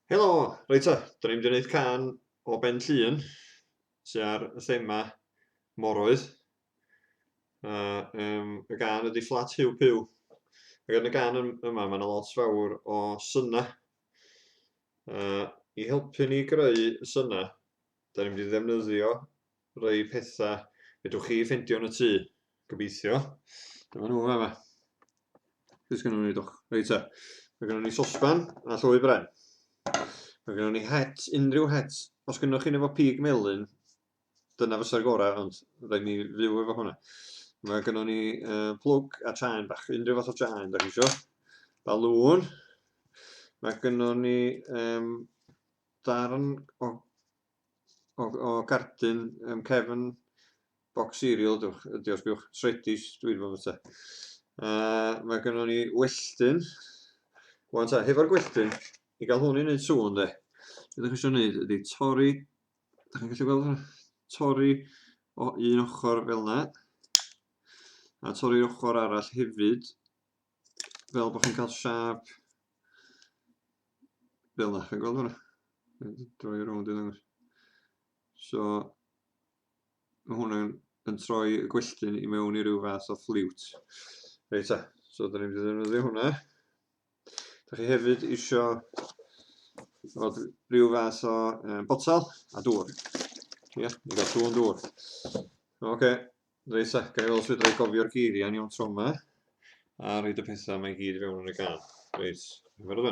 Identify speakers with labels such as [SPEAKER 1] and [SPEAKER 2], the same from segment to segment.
[SPEAKER 1] Helo! Reit ta, da ni'n mynd i wneud can o Ben Llun sy'n ar y thema moroedd. Uh, um, y gan ydy Flat Hiw Piw. Ac yn y gan yma mae yna lot fawr o syna. Uh, I helpu ni greu y syna, da ni'n mynd i ddefnyddio Rhai pethau fedrwch chi ffeindio yn y tŷ, gobeithio. Dyma nhw yma. Beth gynnu ni doch? Reit ta. Mae gynnu ni sosban a llwy bren. Mae gynnu ni het, unrhyw het. Os gynnu chi'n efo pig melyn, dyna fysa'r gorau, ond rhaid ni fyw efo hwnna. Mae gynnu ni uh, plwg a chain bach, unrhyw fath o chain da chi eisiau. Balŵn. Mae gynnu ni um, darn o o o gardyn yym cefn bocs cereal dwch ydi os gwch sredis dwi ddim yn fwyta. A mae gynnon ni welltyn. Wan ta, hefo'r gwelltyn, i gael hwn i wneud sŵn de. Be dach chi eisiau gwneud ydy torri, dach chi'n gallu gweld hwnna? Torri o un ochr fel yna. A torri'r ochr arall hefyd fel bod chi'n cael siâp fel yna, chi'n gweld hwnna? Droi rownd i ddangos. So, mae hwnna'n yn troi y gwelltyn i mewn i ryw fath o ffliwt. Reit ta, so da ni'n mynd i ddefnyddio hwnna. Da chi hefyd eisiau fod rhyw fath o um, botal a dŵr. Ie, yeah, ni'n cael sŵn dŵr. Oce, okay. Reit ta, gael os fedra i gofio'r geiriau yn iawn tro yma, a rhaid y pethau mae gyd i fewn yn y gan. Reit, efo'r yma.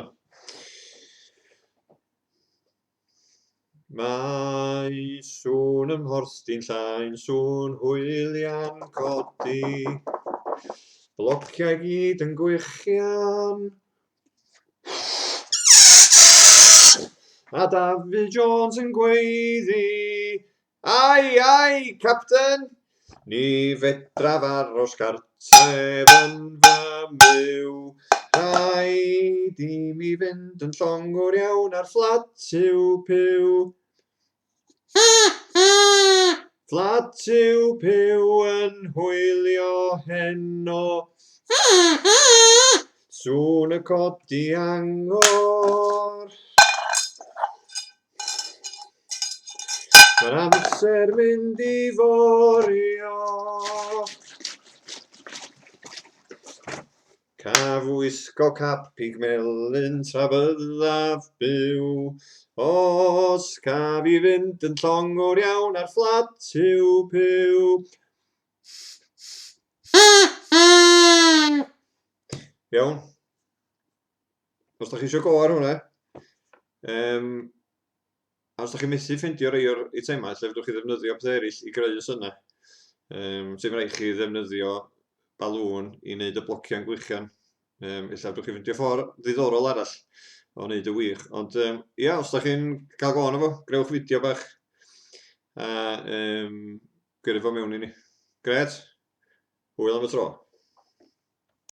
[SPEAKER 1] Mae sŵn ym mhorsdi'n llain, sŵn hwylian codi, blociau gyd yn gwychian. A David Jones yn gweiddi, Ai, ai, Capten! Ni fedraf aros gartref yn fy myw. Rhaid i mi fynd yn llongwr iawn ar fflat yw pyw. Ha, ha! Fflat yw pyw yn hwylio heno. Ha, ha! Sŵn y codi angor. Mae'r amser mynd i forio. Caf wisgo capig melyn tra byddaf byw. Os caf i fynd yn llongwr iawn ar fflat yw byw. Iawn. Os da chi eisiau go ar hwnna, um, a os da chi methu ffeindio rei o'r eitemau, lle fydwch chi ddefnyddio pethau eraill i greu y synnau, um, sy'n rhaid chi ddefnyddio balŵn i wneud y blociau'n gwichian. Um, illa fydwch chi ffeindio ffordd ddiddorol arall o wneud y wych. Ond um, ia, os da chi'n cael go arno fo, grewch fideo bach a um, gyrru fo mewn i ni. Gret, hwyl am y tro.